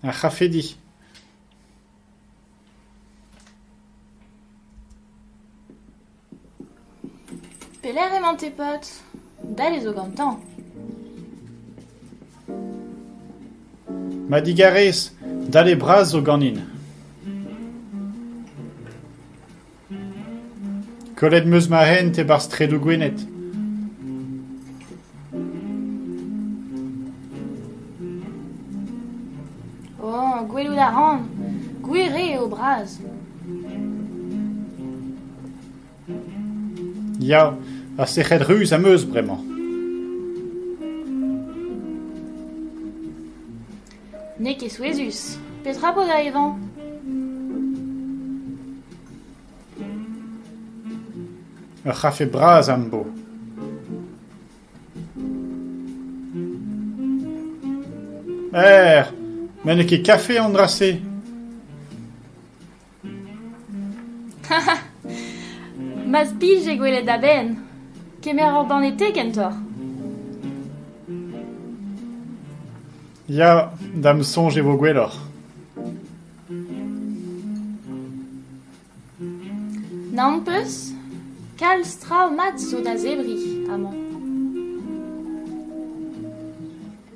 Ar c'hafedi. Pelec'h emañ tes potes ? Dall e zo gantañ. Ma digarez, dale bras zo ganin. Kollet 'm eus ma hent e-barzh straedoù Gwened. Oh, gwelout a ran. Gwir eo eo bras. Ya, ha sec'hed ruz am eus bremañ. N'eo ket souezhus. Petra vo da evañ ? Ur c'hafe bras am bo. Er, met n'eo ket kafe an dra-se. M'az pije gwelet a-benn, kemer ur banne te kentoc'h. Ya, da'm soñj e vo gwelloc'h. N'am peus ? Kalz traoù mat zo da zebriñ amañ.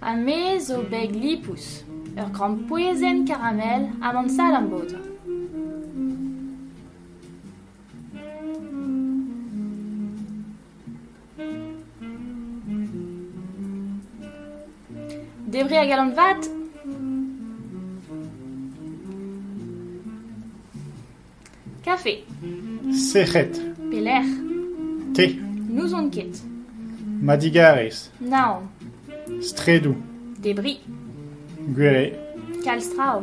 Ha me zo beg lipous, ur grampouezhenn karamel ha mont salam bodañ. Debret a galon vat Kafe. Sec'hed. Pelec'h? Te. N'ouzon ket. Madigarez. Naon. Straedoù. Debris. Gwere. Kalz traoù.